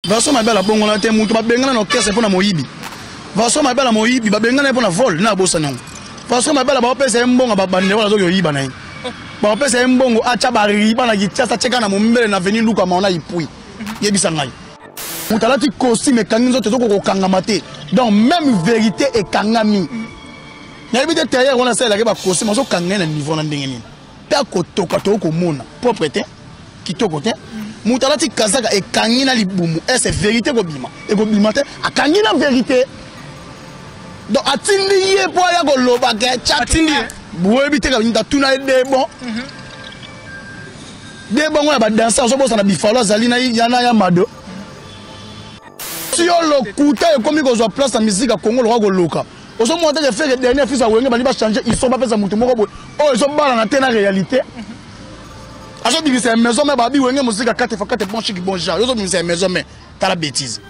Vincent Mabela bongola te mutu babengana na orchestre mpo na moyibi Vincent Mabela moyibi babengana ye mpo na vol na abosani yango Vincent Mabela baopesa ye mbongo babande wana azoki oyiba na ye baopesa ye mbongo atya bariba na kityasa atyeka na mombele na veni luka maona ipui yebisa ngai moto alati costume ekangi nzoto ezokoka kokangama te donc même vérité ekangami nayebi te tailleur wana asalelaki bacostume azokanga ye na niveau na ndenge nini ta kotoka tokoki komona propre te kitoko te moto alati kazaka ekangi na libumu ese verité ekobima ekobima te akangi na verité donc atindi ye mpo aya koloba ke atindi ye boyebi te kabinda tuna ye debon mhm. debon ngo ya badanse azobosana bifalo azali na yana ya mado yo lokuta ekomi kozwa place na miziki ya kongo lokola koloka ozo mona te ke feke dernier fils ya wenge bandi ba changer iso bapesa motu moko boye oyo ezobalana te na réalité azobimisa ya maison me babi wenge mosika kate fa kate bon chiki bon genre yo ozobimisa ya maison me tala bétise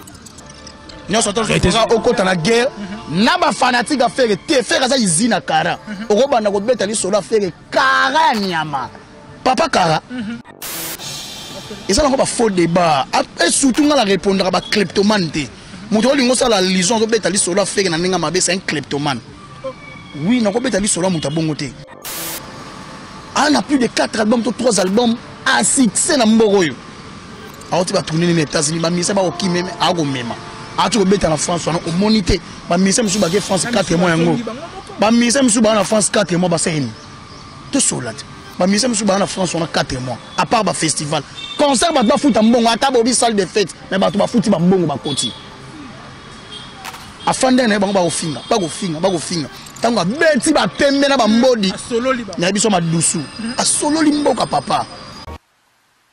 nyonso tozoa okota na guerre na bafanatique ya fere te fere aza izine ya kara okobanda kobeta lisolo ya fere kara ya nyama papa kara mhm. eza nango bafaux débat e surtout ngai na répondaka bacleptomane te moto olingi osala lison azobeta lisolo afeke na ndenge mabe c'est un cleptomane oui nakobeta lisolo ya moto ya bongo te ana ah, plus de 4 albums to 3 albums a succès na mboko oyo awuti ba tourner na États-Unis ba musiciens ba okime ako mema awuti ko beta na France wana omoni te ba musiciens musu ba ke France 4 mois yango ba musiciens musu ba na France 4 mois ba seni to sola te ba musiciens musu ba na France wana 4 mois à part ba festival concert ba ba futa mbongo ata bobi salle de fête mais ba to ba futi ba mbongo ba koti afandai na ye bango bakofinga bakofinga bakofinga ntango abeti bapembe na bambodi na ye biso madusu asololi mboka papa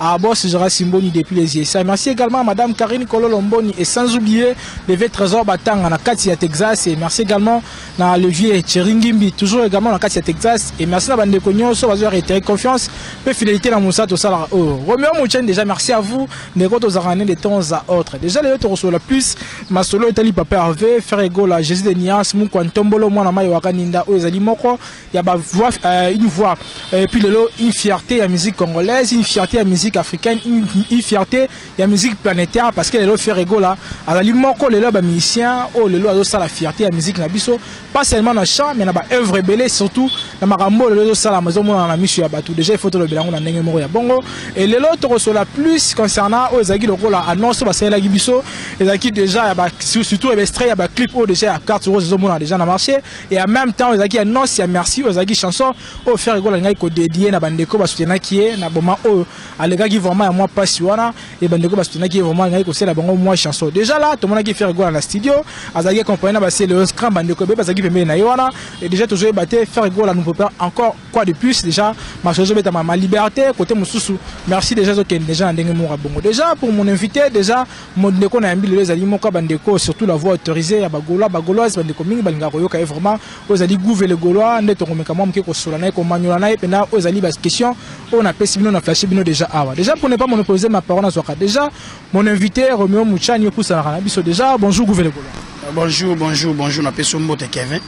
Ah boss Jara Simboni depuis les USA. Merci également à Madame Karine Kololomboni et sans oublier le vieux Trésor Batanga na Katia Texas et merci également na le vieux Cheringimbi toujours également na Katia Texas et merci na bande konyo so bazo réitérer confiance pe fidélité na Moussa to sala oh Romeo Mouchen déjà merci à vous mais quand aux arrêter de temps à autre déjà les autres sur la plus ma solo etali papa Hervé Ferregola Jésus de Nias Mukwantombolo mwana mayo wakaninda o ezali moko ya ba voix euh, une voix et puis lelo une fierté ya musique congolaise une fierté ya musique africaine une, une fierté ya musique planétaire parce que lelo Ferre Gola azali moko lelo ba musiciens oyo oh, lelo azosala fierté ya musique na biso pas seulement na chant mais na ba œuvre ebele surtout na makambo lelo ezosalama ezomonana na miso ya bato déjà il faut tolobela yango na ndenge moko ya bongo et lelo tokosola plus concernant oyo ezalaki lokola annonce oyo basalelaki biso ezalaki déjà ya ba surtout ebestre ya ba clip oyo déjà ya carte rose ezomona déjà na marché et en même temps ezalaki ya noce ya merci oyo ezalaki chanson oyo ferre gola alingaki kodedie na bandeko basutenaki ye na boma oyo alekaki vraiment ya mwa mpasi wana e bandeko basutenaki ye vraiment alingaki kosela bango mwa chanson déjà là tomonaki ferre gola na studio azalaki accompagné na baseleos grand bandeko ebele bazalaki pembeni na ye wana e déjà tozoyeba te ferre gola nous prépare encore quoi de plus déjà masolo ezobetama ma liberté côté mosusu merci déjà ezokende déjà na ndenge moko ya bongo déjà pour mon invité déjà Mon ndeko na yambi lelo ezali moka ba ndeko surtout la voix autorisée ya ba Gaulois ba Gauloises ba ndeko mingi balingaka koyoka ye vraiment oyo ezali gouve le Gaulois nde tokomeka mwa moke kosola na ye komanyola na ye mpenza oyo ezali ba question oyo napesi bino na flashe bino déjà awa déjà pour ne pas monopoliser ma parole nazwaka déjà mon invité Romeo Muchani okusanaka na biso déjà bonjour gouve le Gaulois euh, bonjour bonjour bonjour napesi yo mbote Kevin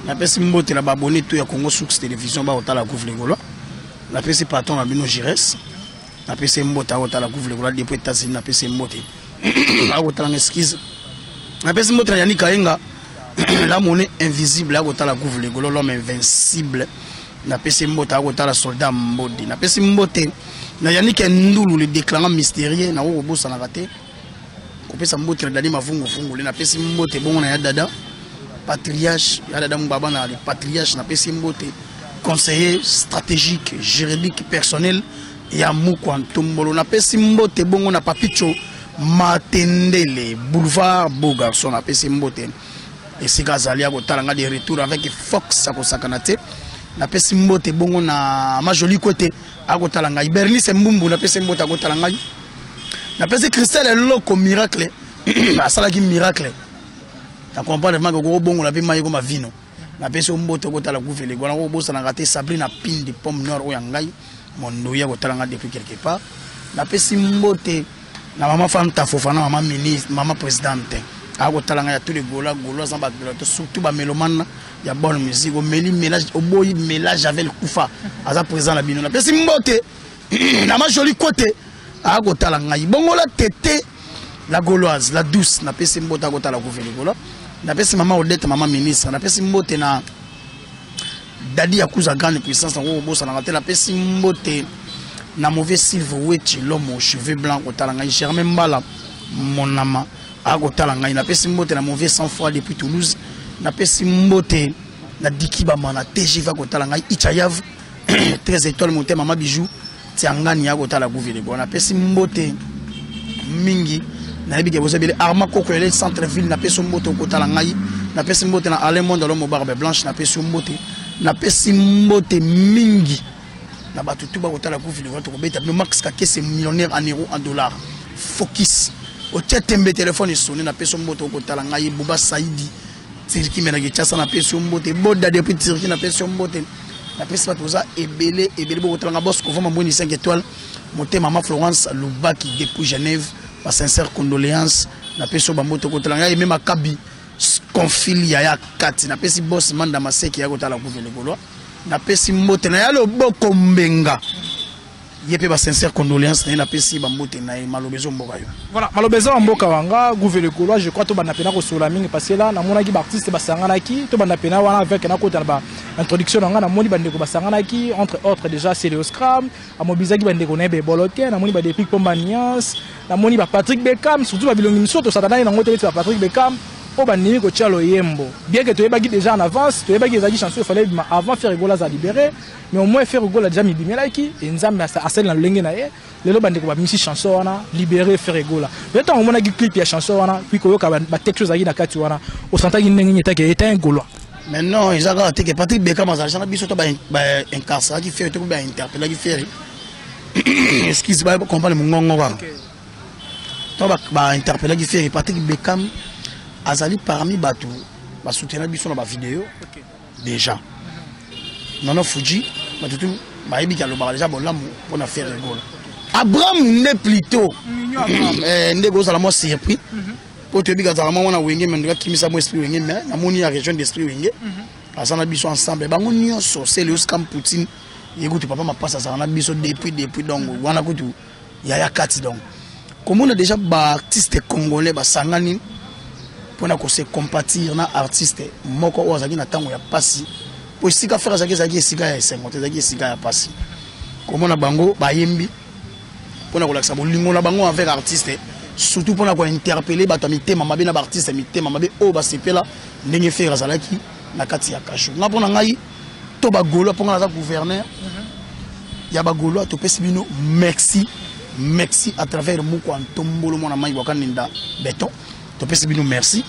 napesi mbote na babone to ya Congo Source Télévision bakotala gouve le Gaulois napesi patron na bino Gires napesi ye mbote akotala guvule kola depuis états-unis napesi ye mbote akotala nga eskize napesi mbote na yani kayenga la monnaie invisible akotala guvule golo l'homme invincible napesi mbote akotala soldat mbodi napesi mbote na yanike ndulu le déclarant mystérieux nakokobosanaka te kopesa mbote na dani mavunguvungu le napesi mbote bongo na ya dada patriarche ya dada mobaba na patriarche napesi mbote conseiller stratégique juridique personnel ya mukwa ntombolo napesi mbote bongo na papicho matendele boulevard beau garçon napesi mbote esika azali akotala ngai de retour avec fox akosakana te napesi mbote bongo na majoli kwete akotala ngai bernice mbumbu napesi mbote akotala ngai Na pesi Christelle eloko miracle. Asalaki miracle. Na comprendre vraiment que kobongola pe mayi koma vino. Na pesi omboto kotala guvele. Gwana ko bosana ngate Sabrina Pindi pomme noire oya ngai. Mondoya kotala nga depuis quelque part. Na pesi mbote na maman Fanta Fofana, maman ministre, maman présidente. akotala ngai ya tous les gola gola aza bato surtout bamelomane ya bonne musique omeli melage oboyi melage avel kufa aza présent na bino napesi mbote na ma jolie kote akotala ngai bongola tete la gauloise la douce napesi mbote akotala kuve likolo napesi mama odete mama ministre napesi mbote na dadi ya kuza grande puissance nango kobosanaka te napesi mbote na mauvais silve wechi lomo cheveux blanc kotala ngai germain mbala monama akotala ngai napesi mbote na mauvais sang froid depuis toulouse napesi mbote na dikibama na tgv akotala ngai ichayave très étoile mote mama bijou tiangani ya kotala guvile bon napesi mbote mingi nayebi ke boza ebele arma koko ele centre ville napesi mbote okotala ngai napesi mbote na alain monde alomo barbe blanche napesi mbote napesi mbote mingi na bato tu bakotala guvile wana tokobeta bino max kakese millionnaire en euro en dollar focus otia tembe telefone esone napesi mbote okotala ngai buba saidi Turquie mais na Kinshasa na pesi yo mbote boda depuis Turquie na pesi yo mbote na pesi bato oza ebele ebele bokotalanga boss kovo mambweni 5 étoiles motema mama Florence Lubaki depuis Genève ba sincère condoléance na pesi yo bambote kotalanga ye meme akabi confil ya ya kati na pesi boss manda maseki ya kotala kuvele kolwa na pesi mbote na ya loboko mbenga ye mpe ba sincère condoléance na ye napesi bambote na ye maloba ezo mboka yo voilà maloba eza bamboka wanga gouvele golois je crois tobanda mpena kosola mingi parce que la namonaki baartiste basanganaki tobanda mpena wana avec nakota na baintroduction na ngai namoni bandeko basanganaki entre autres déjà celeoscram amobilisaki bandeko na ye bebolo te namoni badeplic mpo maniance namoni bapatrick beckham surtout babilongi misusu tosatanaki nango te neti bapatrick beckham oyo bandimi kotya loyembo bien ke toyebaki déjà en avance toyebaki ezalaki chanson efale ebima avant ferre gola aza libere Mais au moins Ferre Gola déjà mibimelaki et Nzambe asali na lolenge na ye lelo bandeko babimisi chanson wana libere Ferre Gola lelo ntango omonaki clip ya chanson wana puis koyoka batexte ozalaki na kati wana osantaki ndenge nini etake eta un golois mais non eza kaka te ke patrik bekam azalaki na biso to baincarceraki Ferre to bainterpellaki Ferre excuse ba comprendre mongongo kaka to bainterpellaki Ferre patrik bekam azali parmi bato basoutenaki biso na bavideo okay. deja nana fuji bato tu bayebi ke alobaka deja bolamu mpo na ferre gola abraham nde plutot eh, nde kozala mwa surpris mhm. mpo toyebi kazala mwa mwana wenge me ndoki akimisa mwa esprit wenge me namoni ya région d'esprit wenge mhm. aza na biso ensemble bango nyonso seleus kam poutine ye kutu papa mapasa azala na biso depuis depuis donc wana kutu yaya kati donc komona déjà baartiste congolais basangani mpona kose compatir na artiste moko oyo azalaki na ntango ya mpasi mpo esika frere azalaki ezalaki esika ya esengo te ezalaki esika ya mpasi komona bango bayembi mpona kolakisa bolingo na bango envers artiste surtout mpona kointerpele bato ya mitema mabe na baartiste ya mitema mabe oyo basepela ndenge frere azalaki na kati ya kasho nga mpo na ngai to ba gaulois mpo nga naza gouverneur mhm. ya ba gaulois topesi bino merci merci à travers moko ya ntombolo mwana mai bwakaninda beton topesi bino merci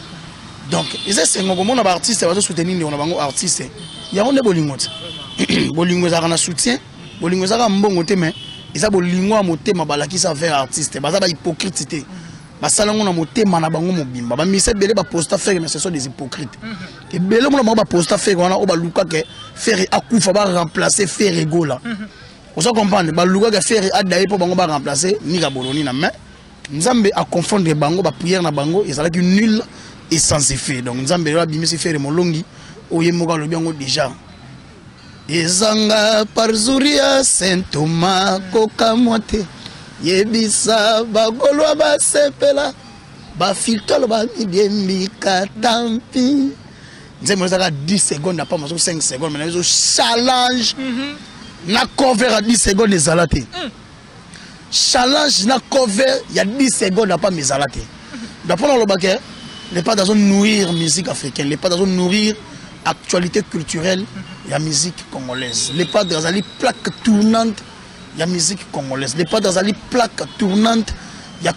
donc eza esengo komona baartiste bazosoutenir ndeko na bango artiste yango nde bolingo te bolingo ezalaka na soutien bolingo ezalaka mbongo te mais eza bolingo ya motema balakisa vers artiste baza bahypocrite te basala yango na motema na bango mobimba bamisa ebele baposta fere mais ce sont des hypocrite mhm. ebele mona bango baposta fere wana oyo baluka ke fere akufa baremplace fere gola mhm. oza comprendre baluka ke fere adaye mpo bango baremplace nika boloni na main nzambe aconfondre bango bapriere na bango ezalaki nul et sans effet donc nzambe lelo abimisi fere molongi oyo ye moko alobi yango déjà ezanga parzuria saint thomas kokamwa te yebisa bagolwa basepela ba filtre loba mibiembika tampi nzembo ezaka 10 seconde na pamba soki 5 seconde mana ezo challenge mhm. na cover ya 10 seconde ezala te mm. challenge na cover ya 10 seconde na pamba ezala te da mpo nalobaka lepat azo nourrir musique africaine lepat azo nourrir actualité culturelle ya musique congolaise lepat azali plaque tournante ya musique congolaise lepat azali plaque tournante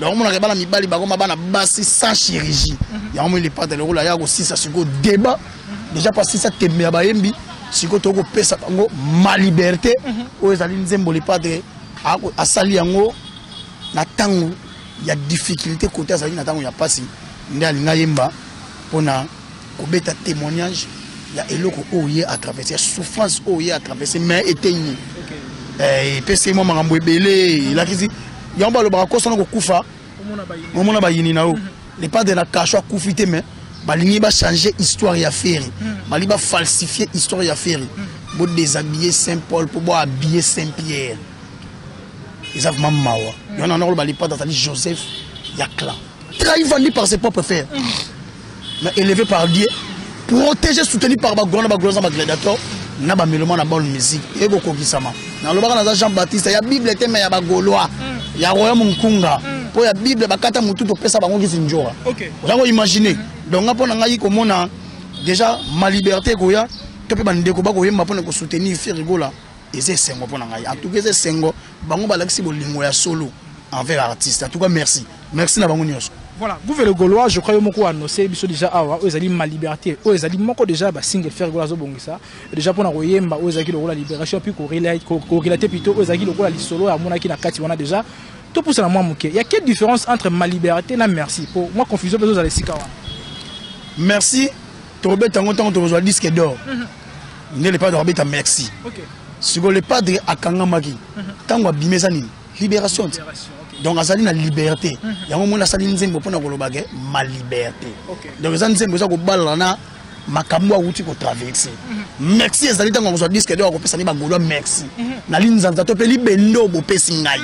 donc omonaka bana mibali bakoma bana basi sans chirurgie mhm. yango moi lepata lokola aya kosisa sikoyo débat mhm. déjà mpo asisa tembe ya bayembi sikoyo toki kopesa bango ma liberté mhm. oyo ezali nzembo lepate asali yango na ntango ya difficulté kote azalaki na ntango ya mpasi nde alinga yemba mpona kobeta témoignage ya eloko oyo ye atraverse ya souffrance oyo ye atraverse mais eteyi nini eh, epesi ye mwa makambo ebele elakisi yango balobaka kosana kokufa omona bayini na yo mhm. le pas de la cache akufi te mais balingi bachange histoire ya ferre mhm. balingi bafalsifie histoire ya ferre mhm. bodéshabille saint paul mpo bohabille saint pierre eza vraimen mawa yango na nakoloba lipata azali joseph ya clan trahi vandi par ses propres ferre mais élevé par Dieu, protégé, soutenu par Bagwana, Bagwana, Gladiator, na ba meloma na bonne musique et boko kisama na lobaka na Jean Baptiste ya bible te mais ya ba gaulois mm. ya royaume nkunga mm. po ya bible bakata mutu to pesa bango kisi njora okay. oza ko imaginer mm. donc ngapo na ngai komona déjà ma liberté koya to pe ba ndeko ba koyemba pona ko soutenir Ferregola eza esengo mpo na ngai en tout cas eza esengo bango balakisi bolingo ya solo envers artiste en tout cas merci merci na bango nyonso voilà gouve le gaulois je crois yo moko annoncé biso déjà awa oyo ezali ma liberté oyo ezali moko déjà ba single faire gola azobongisa déjà mpona koyemba oyo ezalaki lokola libération puis korelate plutôt oyo ezalaki lokola lisolo amonaki na kati wana déjà topusana mwa moke ya quelle différence entre ma liberté na merci mpo mwa confusion mpe ezozala esika wana merci tokobeta yango ntango tokozwa disque d'or mhm. nde le padre akobeta merci sikoyo le padre akangamaki mhm. ntango abimi eza nini libération te donc azali na liberté mhm. yango omoni asali nzembo mpo na koloba ke ma liberté donc eza nzembo eza kobalana na makambo awuti kotraverse merci ezali ntango akozwa disque d'or akopesa nde bagolois merci na linzanza to mpe libende oyo bopesi ngai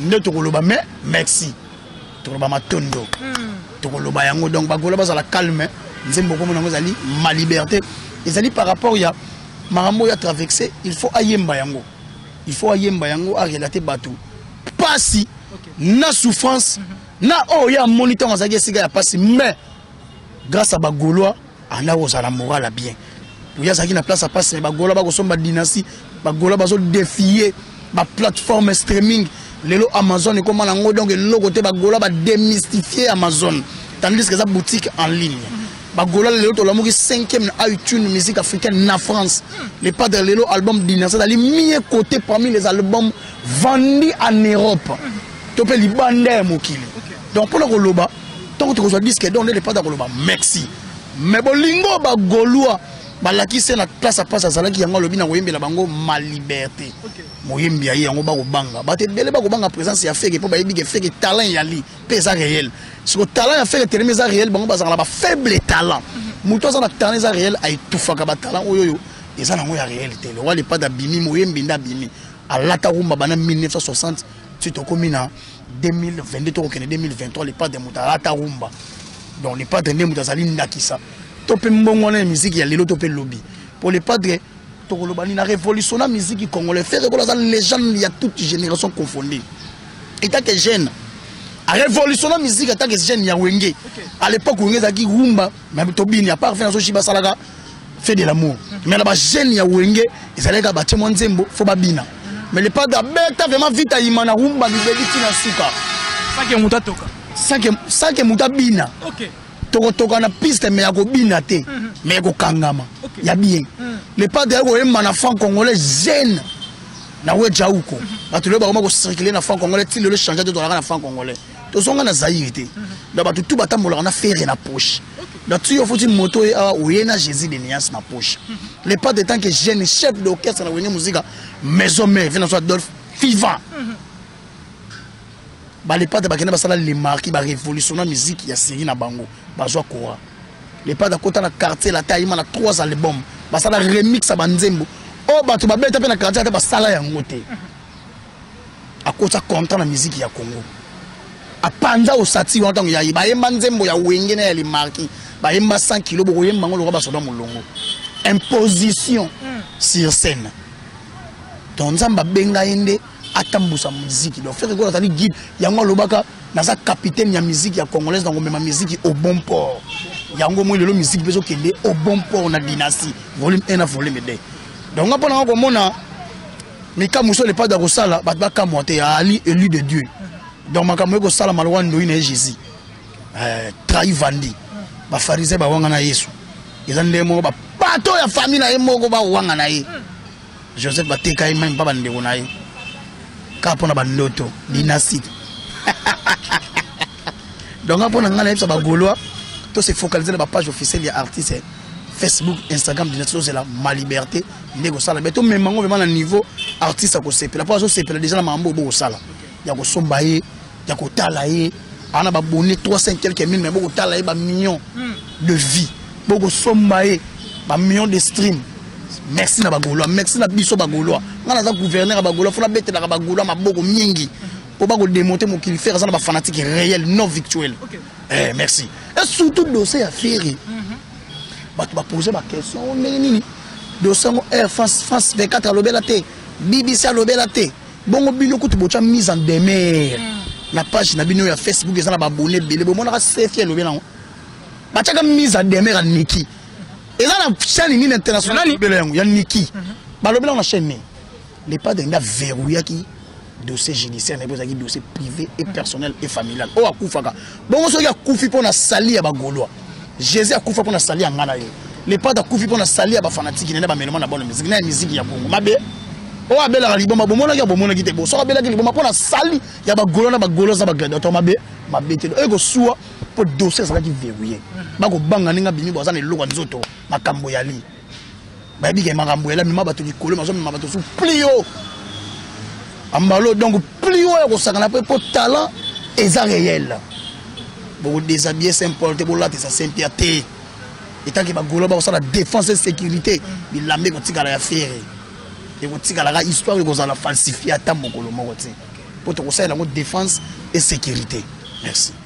nde tokoloba me merci toloba matondo tokoloba yango donc bagola bazala calme nzembo okomona yango ezali ma liberté ezali par rapport ya makambo oyo atraverse il faut ayemba yango il faut ayemba yango arelate bato mpasi na souffrance na oyo ye amoni ntango azalaki esika ya mpasi mais grâce à ba gaulois anda kozala moral ya bien oyo azalaki na place ya pasi ba gaulois bakosomba dynastie ba gaulois bazo défier ba plateforme streaming lelo amazon ekoma nango donc eloko te ba gaulois ba démystifier amazon tandis que eza boutique en ligne ba gaulois lelo tolamuki 5e na iTunes musique africaine na France le padre lelo album dynastie ezali mie côté parmi les albums vendus en Europe to pe libanda ya mokili donc pona koloba ntango tokozwa disque don nde lepata koloba merci me bolingo bagolois balakisi na place apasi azalaki yango alobi na koyembela bango ma liberté moyembi ya ye yango bakobanga bato ebele bakobanga présence ya feke mpo bayebi ke feke talent eyali mpe eza réel siko talent ya feke telemi eza réel bango bazalaka na bafaible talent moto aza na talent eza réel aetufaka batalent oyo oyo eza nango ya réel te lokola lepata abimi moyembi nde abimi alata rumba bana 1960 ti tokomi na 2022 tokokende 2023 le padre moto alata rumba donc le padre nde moto azali ndakisa to mpe mbongo wana ya miziki ya lelo to mpe lobi mpo le padre tokoloba nini na révolution na miziki congolais fere kola aza légende ya toute génération confondue etake jeune arévolution na miziki atake jeune ya wenge à l'époque wenge ezalaki rumba mais tobini à part fe nazo shiba salaka fait de l'amour mais là ba jeune ya wenge ezalaki ba temo nzembo faut ba bina mais le pas d'abeta vraiment vita imana rumba bibeli tina suka sake muta toka sake sake muta bina okay tokotoka na piste mais ya kobina te mhm. mais ya kokangama ya bien mhm. le padre ya koyemba na franc congolais jeune na weja uko mhm. bato lelo bakoma kocircule na franc congolais ti lelo change te tozalaka na franc congolais tozonga na zaire te na bato tu batambolaka na fere na poche na tuyo futi moto ye awa oye na jésus de niance na poche le pas de temps que jeune chef d'orchestre na wenge mosika maison mère vina so adolphe vivant balepate bakende basala lemarki barévolutionna miziki ya seri na bango bazwa kora lepate akota na quartier lata ayima na trois album basala remix ya banzembo oyo bato babeta mpe na quartier ata basala yango te akosa kontra na miziki ya congo apanza osati wana ntango yaye bayemba nzembo ya wenge na ya limarki bayemba 100 kilo bokoyemba yango lokola basoda molongo imposition hmm. sur scène donc nzambe abenga ye nde atambusa miziki donc frere ekola azali guide yango alobaka naza capitaine ya miziki ya congolaise na komema miziki au bon port yango moi lelo miziki mpe ezokende au bon port na dynastie volume 1 na volume 2 donc nga mpo nanga komona mais kama mosusu lepado akosala bato bakamwa te ali élu de dieu donc makambo eko sala malowa ndoyi na Jésus euh, trahi vandi ba pharisien ba wanga na Yesu eza ndenge moko ba pato ya famille na ye moko ba wanga na ye Joseph ba teka ye même pas ba ndeko na ye ka pona ba ndoto dynastie donc nga mpo na ngai nayebisa bagolois to se focalise na bapage officielle ya artiste facebook instagram dina tozozela ma liberté nde kosala me tomema yango vraimen na niveau artiste akosepela mpo azosepela deja na makambo oyo bokosala ya kosomba ye ya kotala ye ana babone 300 quelques mille me bokotala ye bamillion hmm. de vie bokosomba ye bamillion de stream merci na bagolois merci na biso bagolois ngai naza gouverneur ya bagolois fona betelaka bagolois maboko mingi po ba ko démonter mokili ferre aza na ba fanatique réel non virtuel okay. eh merci et surtout dossier ya ferre mm -hmm. bato ba poser ba question oh, ndenge nini dossier yango air eh, france france 24 alobela te bbc alobela te bongo bino kutu botya mise en demeure mm. na page na bino ya facebook eza na babone ebele bomonaka sefi elobi nango batyaka mise en demeure ya niki eza na chaîne nini internationalbele yango ya niki mhm. balobi nango na chaîne nini Le padre nda verrouillaki dossier judiciaire naye ezalaki dossier privé et personnel et familial oyo akufaka bongo soki akufi mpo na sali ya bagolois jésus akufa mpo na sali ya ngai na yo lepata akufi mpo na sali ya bafanatiki na nde bamelema na bana miziki na ya miziki ya kongo mabe oyo abelaka liboma bomonaki ya bomonaki te bo soki abelaki liboma mpo na sali ya bagolo na bagolo aza bagladiateur mabe mabe te oyo ekosua mpo dossier ezalaki verrouille bakobanga ndenge abimi bo aza na eloko ya nzoto makambo yali bayebi ke makambo ela mema bato likolo mazomema bato su plio ambalo donc plio ya kosangana mpe mpo talent eza réel bokodesabille saint paul te bolatisa saint pierre te etanke bagolo bakosala défense sécurité bilamba ekotikala ya fere ekotikalaka histoire ekozala falsifie ata mokolo moko te mpo tokosalela yango défense et sécurité merci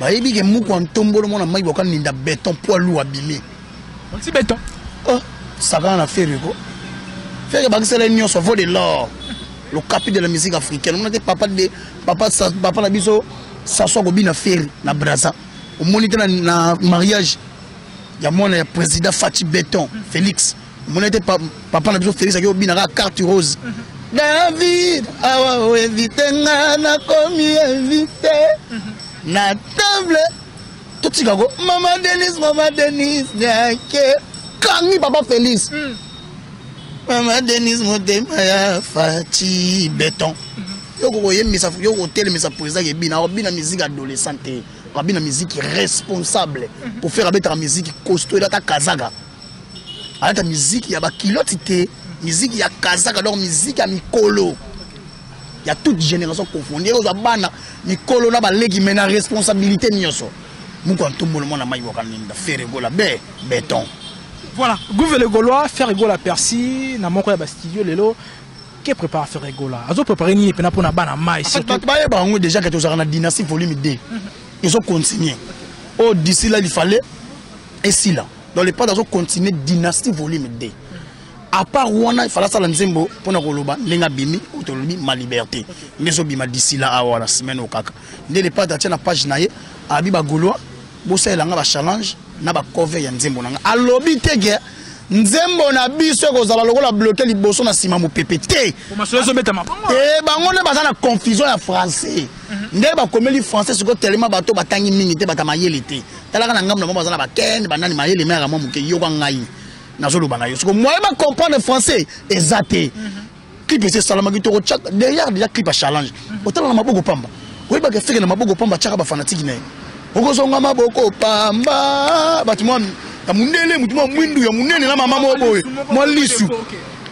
bayebi ke muku antombolo mwana mike boka ninda beton poids lourd abimi onti beton oh sakana na fere ko fere bakisela nyonso vaut de l'or le capi de la musique africaine omona te papa de papa papa na biso saso akobina fere na braza omoni te na mariage ya mwana ya président fati beton félix omona ete papa na biso felix aki obina kaka carte rose mhm. david awa oevite nga nakomi evite mhm. na table totika ko mama denis mama denis yake kangi papa felix mhm. mama denis motema ya fati beton yoko koyembisa yoko kotelemisa président ebina akobina musique adolescent te akobina musique responsable pour faire abetaka musique costo elata kazaka alata miziki ya bakiloti te miziki ya kazaka donc miziki ya mikolo ya toute génération confondu ekozwa bana mikolo na baleki mai na responsabilité nyonso moko ya ntombolo mwana mai wakalinda feregola be beton voilà gouve le gaulois feregola persi na moko ya bastudio lelo ke prépare feregola azo prépare nini mpena mpo na bana mai surtout bayeba yango déjà ke tozalaka na dynastie volume 2 ezo continuer oyo oh, d'ici là il fallait esila dans le pas azo continuer dynastie volume 2 à part wana ifala sala nzembo mpo na koloba ndenge abimi tolobi ma liberté nde ezobima d'ici la awa na semaine oyo kaka nde le pas atia na page na ye abi bagolois bosalela nga bachallenge na bacover ya nzembo na nga alobi te ke nzembo na biso ekozala lokola bloke liboso na nsima mopepe te e bango nde baza na confusion ya français mhm. nde bakomeli français sikoyo telema bato batangi mingi te bata mayele te talaka na ngambo na bango baza na bakende banani mayele meyaka mwa moke yoka ngai nazoloba na yo soko moyen bacomprendre français eza te mhm. clip esi esalamaki tokotya derrière déjà clip ya challenge mhm. otala na maboko pamba oyebaka efeke na maboko pamba atyaka bafanatiki na ye okozonga maboko pamba bato mwa ya mondele motu mwa mwindu ya monene na mama moko boye mwa lisu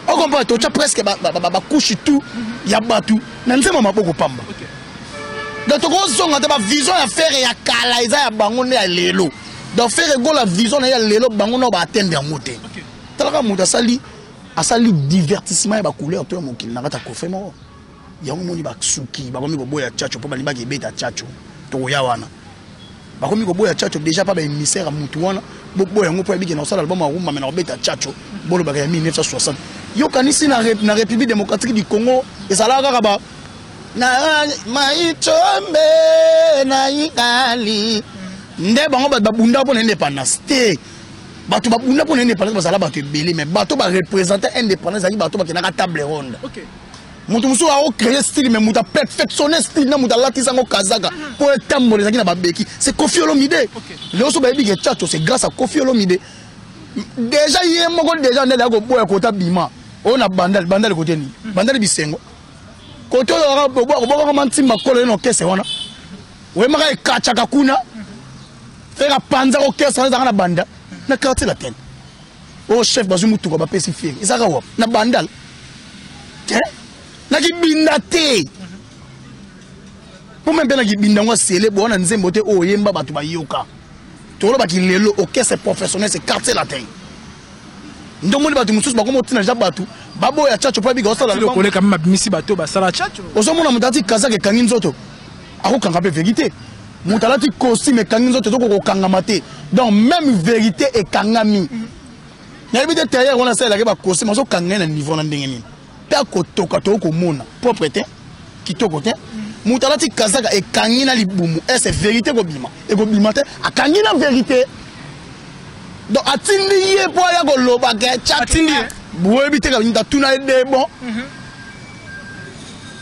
okompa totya presque bakushi tout ya bato na nzema maboko pamba donc tokozonga te bavision ya fere ya kala eza ya bango nde ya lelo donc fere egola vision na ye ya lelo bango nao baatende yango te talaka moto asali asali divertissement ya bacouleur to ya mokili na kati ya kofe moko yango moni basuki bakomi koboya chacho mpo balibaki ebeta chacho tokoya wana bakomi koboya chacho deja pa ba émissaire ya mutu wana boboya yango mpo ya bikenda kosala album ya rumba me na kobeta chacho bolobaka ya 1960 yokanisi na, rep, na république démocratique du congo ezalaka kaka ba na maichombe na ikali nde bango bato babunda mpo na indépendance te bato babunda mpo na indépendance bazala bato ebele mais bato barepresente indépendance ezalaki bato bakendaka table ronde okay. moto mosusu ako créer style mais moto aperfectionne style na moto alatisa yango kazaka mpo etambola ezalaki na babeki c'est kofi olomide leo so bayebi ke chacho c'est grâce à kofi olomide déjà ye moko déjà nde ayaki koboya kota bima oyo na bandali bandali kote nini mhm. bandali bisengo kote oyo obwakaka mantimba kolo ye na okese wana oyemaka ekachaka kuna mhm. feka panza kokese wana ezalaka na banda na quartier latin oyo oh, chef bazwi motuka bapesi fiere ezaka wapi na bandal te na kibinda te mpo mpe na kibinda yango asele boa na nzembo te oyo oh, oyemba bato bayoka tolobaki lelo orchestre professionnel se quartier latin ndomoni bato mosusu bakoma otina ja bato baboya chacho mpo abika osalakoleka mpe babimisi bato basala chacho ozomona moto ati kazaka ekangi nzoto akokanga mpe verite moto alati costume ekangi nzoto ezoko kokangama te donc même vérité ekangami nayebi te tailleur wana asalelaki bacostume azokanga ye na niveau na ndenge nini mpe akotoka toyo komona propre te kitoko te moto alati kazaka ekangi na libumu ese vérité ekobima ekobima te akangi na vérité donc atindi ye mpo aya kolobaka atindi ye boyebi te kabinda tuna ye debon mhm.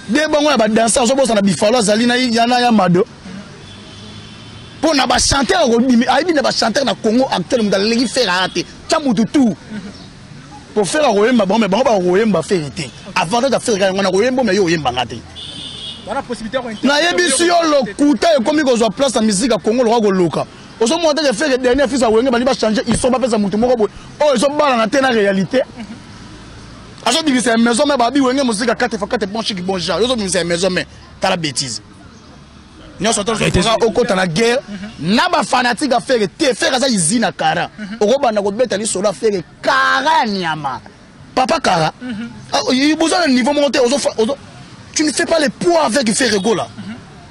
de bango ya badanse ozobosana bifalo azali na yana ya mado mpo na bachanteur ayebi na bachanteur na congo actuel moto aleki fere aya te tya motu tour mpo fere akoyemba bango me bango bakoyemba fere te avantage ya fere yango nakoyemba me yo oyemba nga te nayebisi yo lokuta ekomi kozwa place na miziki ya congo lokola koloka ozomona teke fere dernier fils ya wenge bali bachange iso bapesa motu moko boye oyo ezobalana te na réalité azo bimisa ya maison mais babi wenge muzika kate fa kate bon chic bon genre yozo bimisa ya maison mais tala bêtise nyonso tozokoka okota na guerre na bafanatike ya fere te fere aza izi na kara mhm. okobanda kobeta lisolo ya fere kara ya nyama papa kara mhm. ah, boza na niveau moko te tu ne fais pas le poids avec fere gola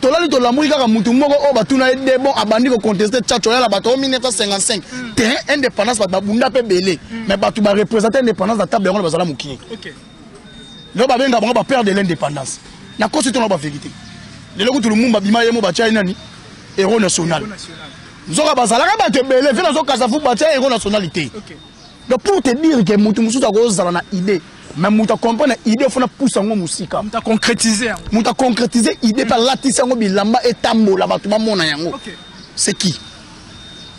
tolali tolamuki kaka mutu moko oyo batuna ye de bon abandi koconteste tchatcho ya na bato o 1955 te indépendance bato babunda mpe ebele hmm. mais bato barepresente indépendance na table yango na bazala mokie lelo babenga bango bapère de l'indépendance nakosi tona bavérité lelo kutu lumumba bima ye mo batya ye nani héros national nzoka bazalaka bato ebele mpe nazokasa fu batya héros national te donc pour te dire ke motu mosusu akozala na idée mais moto acomprendre idée fona pusa yango mosika moto aconcrétise yango moto aconcrétise idée mpe alatisi yango bilamba etambola bato bamona yango c'est qui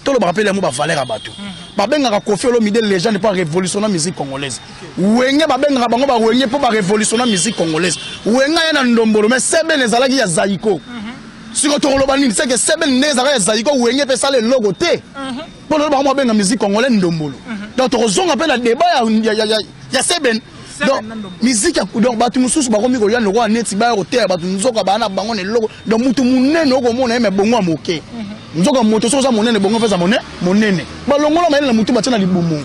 tolobaka mpe yango bavaleur ya bato mhm. babengaka kofi olomide légende mpo arévolutionna musique congolaise wenge babengaka bango bawenge mpo barévolutionna musique congolaise wenge aya na ndombolo mais sebene ezalaki ya zaiko mhm. siko tokoloba nini seke sebene nde ezalaka ya zaiko wenge mpe esala eloko te mhm. Bon, le baron abenga musique congolaise ndombolo. Mhm. Donc tokozonga pe na débat ya ya ya ya Seben. Donc musique ya donc batu mususu bakomi ko yano kwa neti ba ko teya batu nzoka bana bango ne loko. Donc mutu munene oko mona yeme bongo ya moke. Mhm. Nzoka moto soki oza monene bongo pesa monene monene. Ba longola mayele na mutu batia na libumu.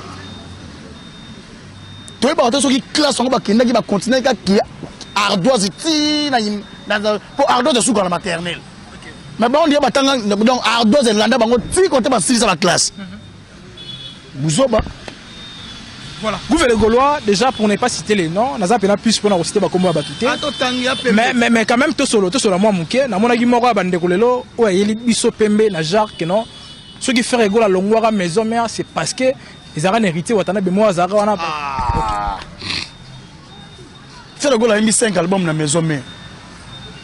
Toyebaka te soki classe yango bakendaki bakontinaki kaka ardoise ti na po ardoise esuka na maternelle mais bango nde batanga donc ardos elanda bango ti kote basilisa ba classe buzoba Voilà. Gouve les Gaulois, déjà pour ne pas citer les noms, naza pena plus pour na citer ba kombo ya batute. Ah, mais mais mais quand même to solo to solo moi muke, na mona gi moko ya bande kolelo, o yeli biso pembe na genre que non. Ce qui fait rigoler longwara maison mère, c'est parce que ils ont un héritier watana be moi azara wana. Ah. Okay. Feu de Gola ayimbi 5 album na maison mère.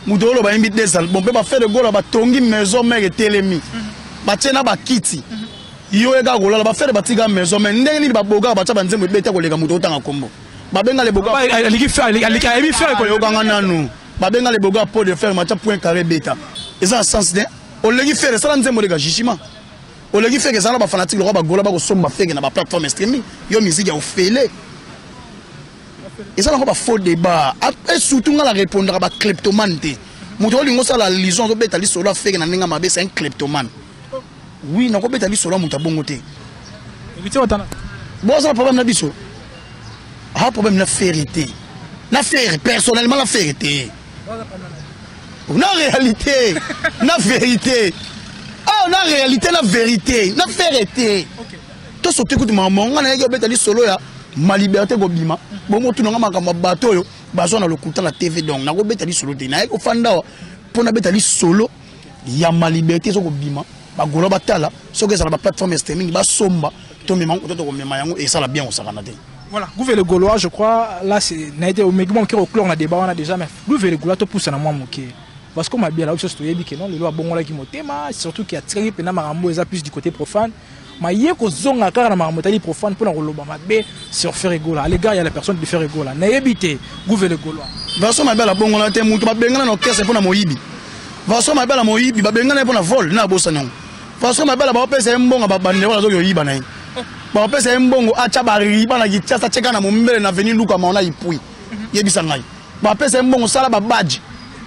Moto oyo bayimbi 2 album mpe ba Feu de Gola batongi maison mère etelemi. Mhm. Batie na bakiti. Mhm. Yo eka kolala ba Feu de batika maison mère. Ndenge nini baboka batia ba nzembo ebeta koleka moto otanga kombo. Babenga le boka. Aliki Feu, aliki ayebi Feu ko yokanga nanu. Babenga le boka pot de fer matia point carré beta. Eza sens de olengi Feu esala nzembo leka jugement. Olengi Feu ezala ba fanatique lokwa ba gola ba kosomba Feu na ba plateforme streaming. Yo musique ya ofele. eza nango bafaux débat e surtout ngai na répondaka bacleptomane te moto olingi osala allusion azobeta lisolo afeke na ndenge ya mabe c'est un cleptomane oui nakobeta lisolo ya moto ya bongo te bozala problème na biso aa problème na fere te na fere personnellement na fere te na réalité na vérité awa ah, na réalité na vérité na fere te to soki kutu makambo yango ngai nayaki obeta lisolo ya ma liberté kobima bongo tuna ngai makambo ya bato oyo bazwa na lokuta na tv donc nakobeta lisolo te nayaki ofanda awa mpo nabeta lisolo ya ma liberté eza kobima bagola batala soki ezala baplateforme ya streaming basomba tomema yango kototo komema yango esala bien kosakana te Voilà, Gouve le Gaulois, je crois, là, c'est Naïté au Megumon qui est au clan, on a débat, on a déjà, mais Gouve le Gaulois, tout pousse à moi, moqué. Parce qu'on m'a bien là, où se stoyait, que non, le loi bon, là, qui m'a surtout qui a tiré, puis n'a m'a plus du côté profane. ma ye kozonga kaka na makambo etali profane mpo na koloba mabe sur Ferre Gola à l'égard ya la personne de Ferre Gola nayebi te gouvele Golois version mabe ala bongola te moto babengana na orchestre mpo na moyibi version mabe ala moyibi babengana ye mpo na vol na abosani yango version mabe ala baopesa ye mbongo babande wana azoki oyiba na ye baopesa ye mbongo atya bariba na kitiasa tyeka na mombele na veni luka maona ipui yebisa ngai bapesa ye mbongo sala babadge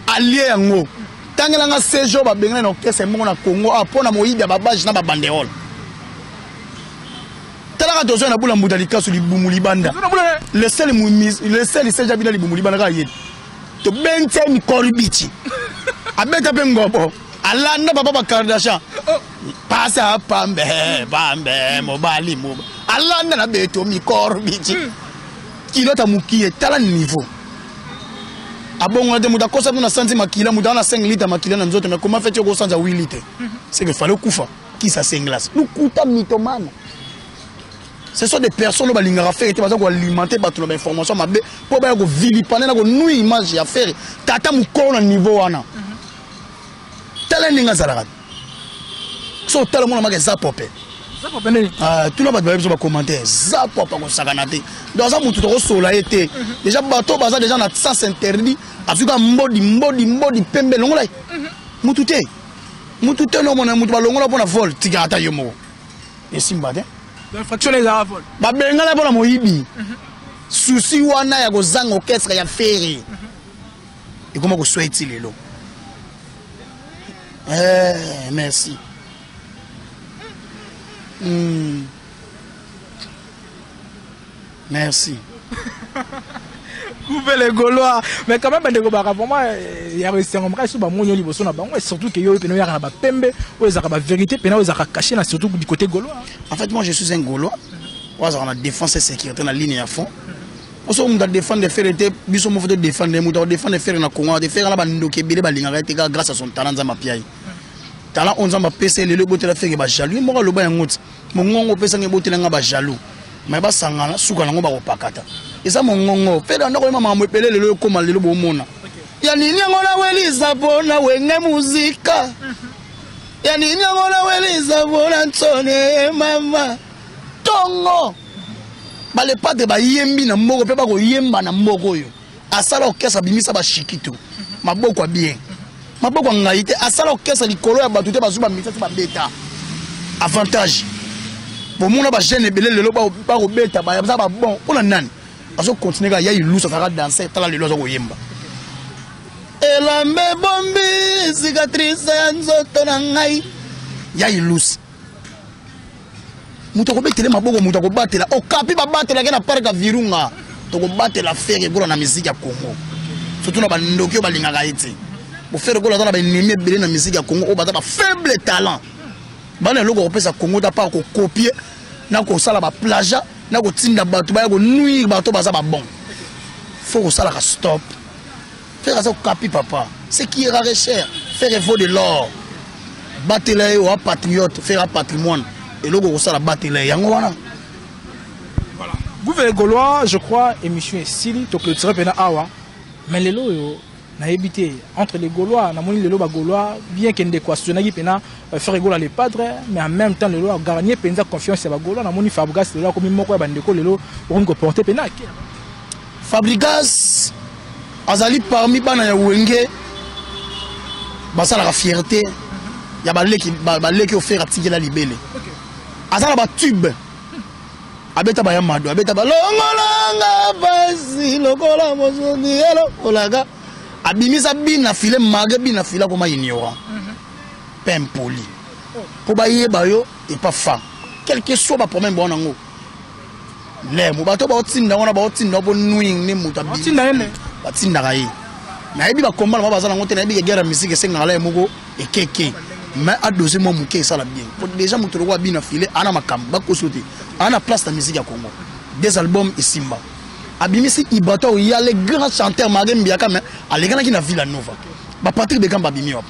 alie yango tangela nga sejour babengana na orchestre mbongo na congo awa ah, mpo na moyibi ya babadge na babanderole talaka tozwa na bula mbuta likasu libumu libanda leseli seja bina libumu libanda kaka yeli tobentse mikoribici abeta mpe ngobo alanda papa bakardashan pasa pambe pambe mobali moba alanda na beto mikoribici hmm. Kilota mukie tala niveau. Abongola de muda kosa tuna santi makila muda na 5 litres makila na nzoto mais comment fait-tu ko sanza 8 litres? Mhm. C'est que fallait kufa qui ça c'est glace. Lukuta mitomane. ce sont des personnes balingaka fere te baza koalimente bato na bainformation mabe mpo baya kovilipane na konui image ya fere tata mokolo na niveau wana tala ndenge azalaka so otala mwana maka eza pope ah, tuna bato bayebiso bacommentaire za pope akosakana te donc aza motu tokosola ye te mhm. deja bato baza deja na sens interdit azwi ka mbodi mbodi mbodi pembe elongola ye mhm. motu te motu te nomona motu balongola mpo na vol tika ata yo moko esimba te babengana mpo na moyibi mhm. susi wana ya kozanga orchestre ya feri ekoma koswa eti lelo eh, merci mm. merci coupe les gaulois mais quand même bandeko baka vraiment eh, ya esengo makasi so bamoni yo liboso na bango et surtout ke yo oyo pena oyaka na bapembe oyo ezalaka bavérité pena oyo ezalaka caché na surtout du côté gaulois en fait moi je suis un gaulois oyo azalaka na défense et sécurité na ligne ya fond oso mutu adefendre fere te biso moko to defendre mutu akodefendre fere na congo te fere na bandoki ebele balingaka ye te kaka grâce à son talent nzambe apia ye talent oyo nzambe apesa ye lelo ebotela fere bajaloux ye moko aloba yango ti mongongo opesanga ebotela nga bajaloux mai basangana suka nango bakopakata eza mongongo fere anda koyema makambo ebele lelo ekoma lelo bomona ya nini yango nawelisa mpo na wenge muzika ya nini yango nawelisa mpo na nsone mama tongo balepate bayembi na mboko mpe bakoyemba na mboko oyo asala orkestre abimisa bashikito maboko ya bien maboko ya ngai te asala orkestre likolo ya bato te bazwi bamisa te babeta avantage bomona bajeune ebele lelo bakobeta baza babon mpo na nani azokontinue kaka ya ilusu azalaka danse tala lelo aza koyemba elamba ebombi cicatrice ya nzoto na ngai ya ilusi moto akobetele maboko moto akobatela okapi babatelaki na parke ya virunga tokobatela fere gola na miziki ya congo surtout na bandoki oyo balingaka ye te bofere gola aza na baennemi ebele na miziki ya congo oyo baza bafaible talent bana eloko kopesa congo ta par kokopie na kosala baplaja na kotinda bato baya konuire bato baza babon fo kosalaka stop Ferre aza okapi papa. C'est qui est rare et cher. Ferre vaut de l'or. Batela ye wa patriote, Ferre patrimoine. Eloko kosala batela ye yango wana. Voilà. Gouvernement Gaulois, je crois émission est sili to clôturer pena awa. Mais lelo yo nayebi te entre les gaulois namoni lelo bagaulois bien ke ndeko asuzanaki mpena euh, frere gola le padre mais en même temps lelo agarnie mpenza confiance ya bagaulois namoni fabrigas lelo akomi moko ya bandeko lelo okomi koporte mpena ake Fabrigas azali parmi bana ya wenge basalaka fierté ya baleki baleki ofere atikela libele aza na batube abeta baya mado abeta balongolanga pasi lokola mosoni elokolaka abimisa bina file mage bina file akoma ignorant mhm. pe impoli mpo bayeba yo epa femme quelque soit baproblème bawana yango le mo bato baotinda wana baotinda mpo nwing nde moto batindaka ye nayebi bakombala mwa baza nango te nayebi egere ya misiki esengaka la ye moko ekeke mais adose mwa moke esala bien mpo déjà moto lokola bina file ana makambo bakoso te ana place na misiki ya congo des albums esimba abimisi ibata oya le grand chanteur marie mbiaka mais alekanaki na villa nova bapatrik bekamba abimi wapo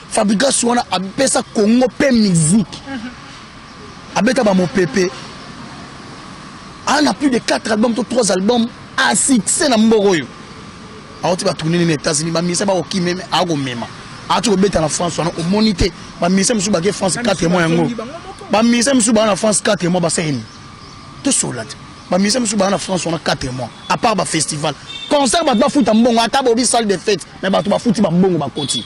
Fabregas wana apesa Congo pe musique. Abeta ba mopepe. Ana plus de 4 albums to 3 albums à succès na mboko yo. Awoti ba tourner na États-Unis ba misa ba okime me ako mema. Ati ko beta na France wana o monite ba misa musu ba ke France 4 mois yango. Ba misa musu ba na France 4 mois ba seni. To solate. Ba misa musu ba na France wana 4 mois à part ba festival. Concert ba ba futa mbongo ata bobi salle de fête mais ba to ba futi ba mbongo ba koti.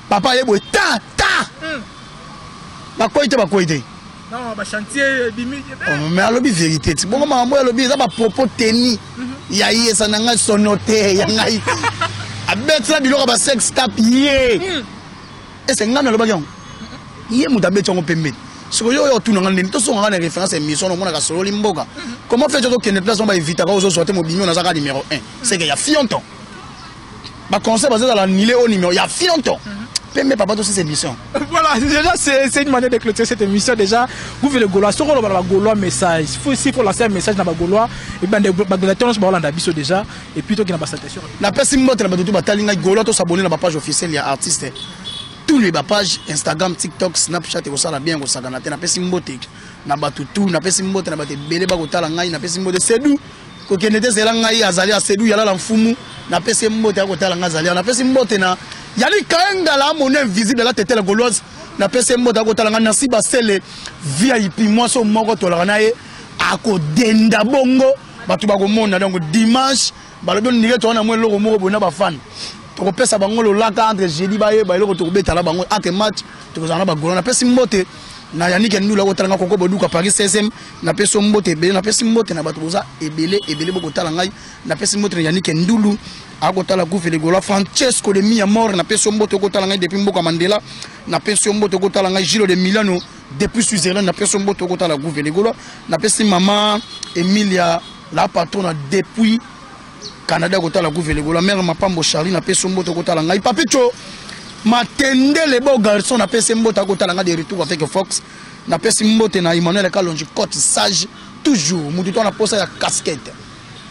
Papa ye boye ta ta. Hmm. Bakwei te bakwei te. Non, ba chantier eh, bimi. Eh, oh, mais alobi vérité. Ti bongo makambo alobi eza ba propos tenus. Mhm. Ya ye sana ngai sonote ya ngai. Abetsa biloko ba sex tap ye. Hmm. Ese ngana alobaki yango. Ye mutu abetsa yango pembeni. soki yo oyo otuna ngai ndeni tosonga ngai na référence émission na omonaka sololi mboka comment fait okende place moko baevitaka ozozwa te mobimi oyo nazaka numéro 1 seke ya fionton ba conseils bazo zala nile au numéro ya fionto pembe papa tous ces émissions voilà déjà c'est une manière de clôturer cette émission déjà vous voulez golois ce qu'on va golois message faut ici pour lancer un message dans golois et ben des bagulateurs ba Hollande biso déjà et puis toi qui n'a pas satisfaction la pesi mbote na batutu batalinga golois to s'abonner na ba page officielle ya artiste tous les ba page Instagram TikTok Snapchat et ça la bien ko sagana te na pesi mbote na batutu na pesi mbote na bate belé ba ko tala ngai na pesi mbote c'est doux kokende te zela ngai azali asedu yalala mfumu napesi mbote ya kotala ngai azali napesi mbote na yali kaengala amoni invisible ala tetela goloise napesi mbote ya kotala ngai nasi basele vip mwasi oyo moko tolaka na ye akodenda bongo bato bakomona donc dimanche balobi ondike toa na mwa eloko moko boye na bafani tokopesa bango lolaka entre jeudi bayeba eloko tokobeta na bango entre match tokozala na bagolo napesi mbote na yanike ndula kotala nga koko boduka paris 16 napesi mbote ebele napesi mbote na bato boza ebele ebele bokotala ngai napesi mbote na yanike ndulu akotala guve ligola francesco de mia mor napesi mbote okotala ngai depuis mboka mandela napesi mbote okotala ngai gilo de milano depuis switzerland napesi mbote okotala guve ligola napesi mama emilia la patrona depuis canada kotala guve ligola mare mapambo charli napesi mbote okotala ngai papico matendele beau garçon napesi mbote akotala ngai de retour avec fox napesi mbote na emmanuel kalonji cote sage toujours motu to na posa ya casquette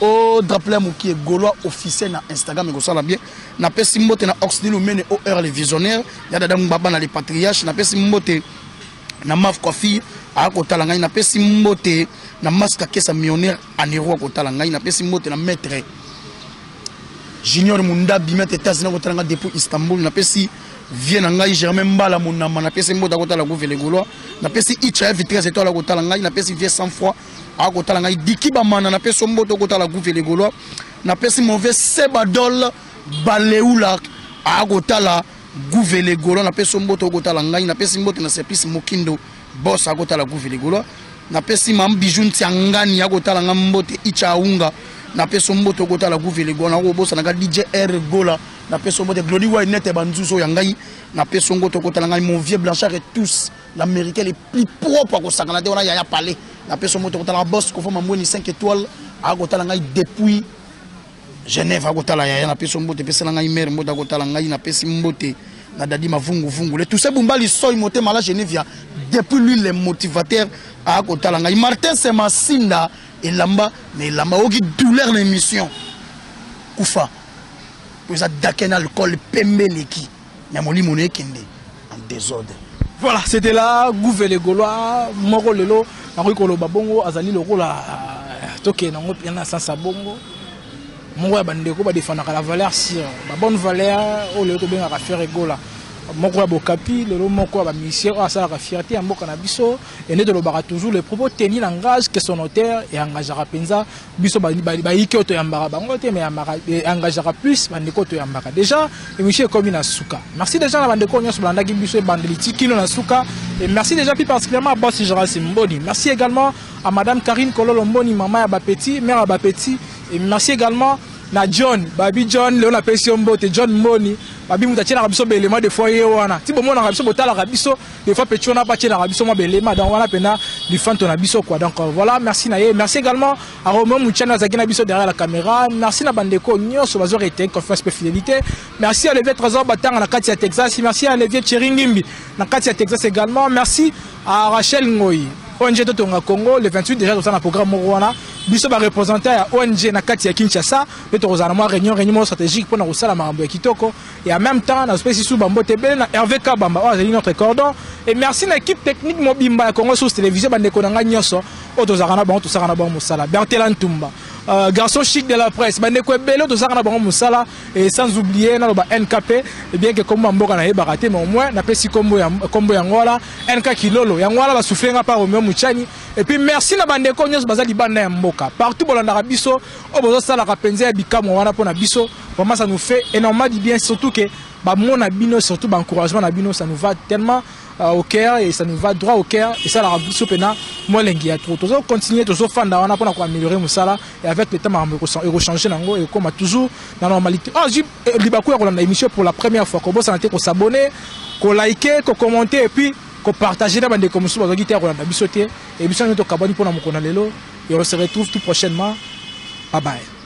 o oh, draple ya mokie golois officiel na instagram ekosala bien napesi mbote na oxnil omene o heure le visionnaire ya dada ngbaba na le patriarche napesi mbote na maf coiffure aya kotala ngai napesi mbote na maska kesa millionnaire anero akotala ngai napesi mbote na maître junior mundabi maître etats-unis akotala ngai depuis istanbul napesi vie na ngai germain mbala monama napesi mbota kotala guve le gaulois napesi icha ya vitrese eto ala kotala ngai napesi vie sans foi akotala ngai diki bamana napesi mboto kotala guve le gaulois napesi mauvais sebadol baleula akotala guve le gaulois napesi mboto okotala ngai napesi mbote na service mokindo bos akotala guve le gaulois napesi mam bijou ntiangani akotala ngai mbote icha aunga napesi mboto okotala guve le gaulois nakobosanaka dj r gola na peso mbote glodi wai nete banzuzo ya ngai na peso ngo tokotala ngai mon vieux blanchard et tous l'américain le plus propre akosangana te wana yaya palais na peso mbote kotala boss kofo mamweni 5 étoiles akotala ngai depuis genève akotala yaya na peso mbote pesela ngai mare mbote akotala ngai na pesi mbote na dadi mavunguvungu le tousse bumbali soi motema la genevia depuis lui le motivateur akotala ngai martin semasinda elamba na elamba oyoki douleur na émission kufa po eza dake na alcool pembe eleki mais molimo na ekende en désordre voilà c'était là gouve le gaulois moko lelo nakoki koloba bongo azali lokola euh, tokende yango mpe na sansa bongo moko ya bandeko badefandaka la valeur sur babonne valeur oyo lelo tobengaka fere egola moko ya bokapi lelo moko ya bamisien oyo asalaka fierté ya mboka na biso ende tolobaka toujours le propos teni langage que son auteur eengagaka mpenza biso bayike oyo toyambaka bango te me yambaka eh, engagaka plus bandeko oyo toyambaka déjà émission ekomi na suka merci déjà na bandeko oyo nyonso balandaki biso ebandeli ti kino na suka et merci déjà plus particulièrement à boss Gérald Simboni merci également à madame Karine Kololo Mboni maman ya bapeti mère ya bapeti et merci également na john babi john leo napesi yo mbote john mboni babi moto atielaka biso baelema de fois ye wana ti bomonaka biso botalaka biso des fois petit on a battu la biso moi belé madame voilà pena du fan ton biso quoi donc euh, voilà merci naïe merci également à Romain Mouchana Zagina biso derrière la caméra merci na bandeko nyoso bazo rete confiance et fidélité merci à Levier Trésor Batanga na Katia Texas merci à Levier Cheringimbi na Katia Texas également merci à Rachel Ngoyi ONG Totonga Congo le 28 déjà dans un programme Moruana biso ba représentant ya ONG na Katia Kinshasa et tozana moi réunion réunion stratégique pour na kosala makambo ya kitoko Et en même temps, na spécie sous Bambo Tebele, na Hervé Kabamba, oh, azali notre cordon. Et merci na équipe technique mobimba ya Congo sous télévision, bande konanga nyoso, oto zakana bango, to sakana bango musala. Bertela Ntumba, euh, garçon chic de la presse, bande ko ebele, oto zakana bango musala. Et sans oublier, na loba NKP, et eh bien que kombo mboka na yeba raté, mais au moins, na pesi kombo ya, kombo ya ngola, NK Kilolo, ya ngola ba souffler nga par Romeo Muchani. Et puis merci na bande ko nyoso, bazali banda ya mboka. Partout, bolanda biso, obozo sala kapenze ya bikamu wana pona biso. Vraiment ça nous fait énormément du bien surtout que ba mona bino surtout ba encouragement na bino ça nous va tellement euh, au cœur et ça nous va droit au cœur et ça la biso pena moi lengi ya trop tozo continuer tozo fanda wana pona ko améliorer musala et avec le temps makambo eko changer nango et comme toujours na normalité ah j'ai eh, libaku ya ko landa émission pour la première fois ko bosana te ko s'abonner ko liker ko commenter et puis ko partager na bande comme sous bazaki te ko landa biso te et biso nyoto kabani pona mukona lelo et on se retrouve tout prochainement bye bye